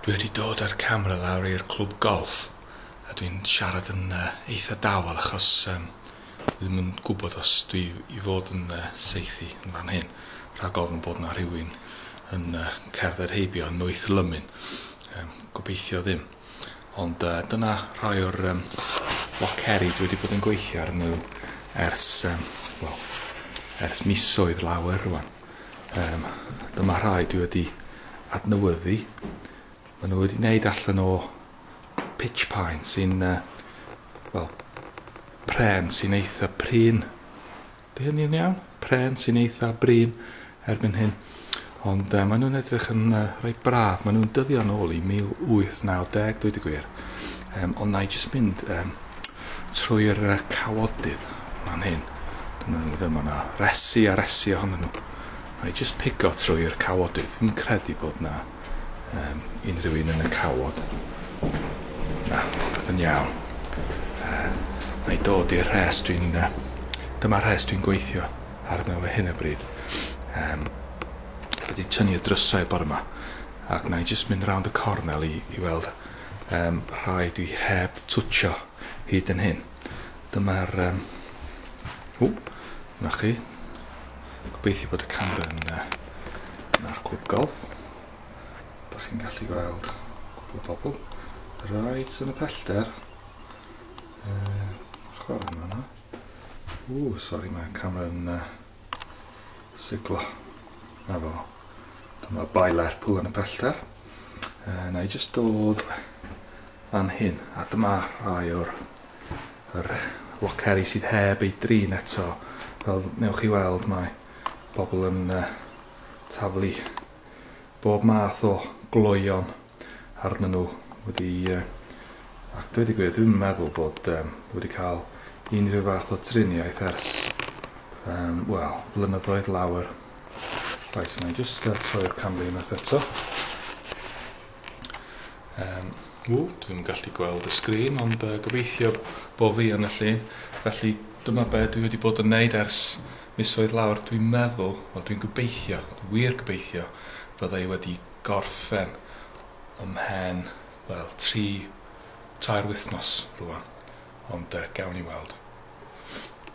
Dwi wedi dod a'r camera lawr i'r clwb golff a dwi'n siarad yn uh, eitha dawel achos um, dwi ddim yn gwybod os dwi i fod yn uh, seithi yn fan hyn rhag ofn bod na rhywun yn uh, cerdded heibio yn noeth lymun. Um, gobeithio ddim. Ond uh, dyna rhai o'r um, loceri dwi wedi bod yn gweithio arnyn nhw ers, um, well, ers misoedd lawer rwan. Yym, dyma rhai dwi wedi adnewyddu. Maen nhw wedi wneud allan o pitch pine sy'n, uh, wel, pren sy'n eitha prin. Di hynny'n iawn? Pren sy'n eitha brin erbyn hyn. Ond uh, maen nhw'n edrych yn uh, rhoi braf. Maen nhw'n dyddio yn ôl i 1890, dweud y gwir. Um, ond na i jyst mynd um, trwy'r cawodydd fan hyn. Dyna nhw ddim yna. Resi a resi ohonyn nhw. Na i jyst pigo trwy'r cawodydd. Dwi'n credu bod na um, unrhyw un yn y cawod. Na, popeth yn iawn. Uh, na i dod i'r rhes dwi'n... Uh, dyma rhes dwi'n gweithio arno fe hyn y bryd. Um, wedi tynnu y drysau bore yma. Ac na i jyst mynd round y cornel i, i weld um, rhai dwi heb twtsio hyd yn hyn. Dyma'r... Um, o, na chi. Gobeithio bod y camera yn... Uh, Na'r clwb golf. Da chi'n gallu gweld cwbl o bobl. Rhaid yn y pellter. Uh, chwarae yma yna. O, sori, mae'r camera yn... Uh, Siglo. Na fo. Dyma bai Lerpwl yn y pellter. Uh, na i jyst dod fan hyn. A dyma rhai o'r yr loceri sydd heb ei drin eto. Fel newch chi weld mae bobl yn uh, taflu bob math o gloion arnyn nhw wedi ac dweud y gwir dwi'm yn meddwl bod wedi cael unrhyw fath o triniaeth ers um, wel, flynyddoedd lawer. Right, na i just uh, troi'r camera unwaith eto. Um, ww, dwi'n gallu gweld y sgrin, ond uh, gobeithio bo fi yn y llun. Felly dyma be dwi wedi bod yn neud ers misoedd lawr, dwi'n meddwl, wel dwi'n gobeithio, wir gobeithio, fydda i wedi gorffen ymhen, wel, tri, tair wythnos rwan, ond yy, gawn ni weld.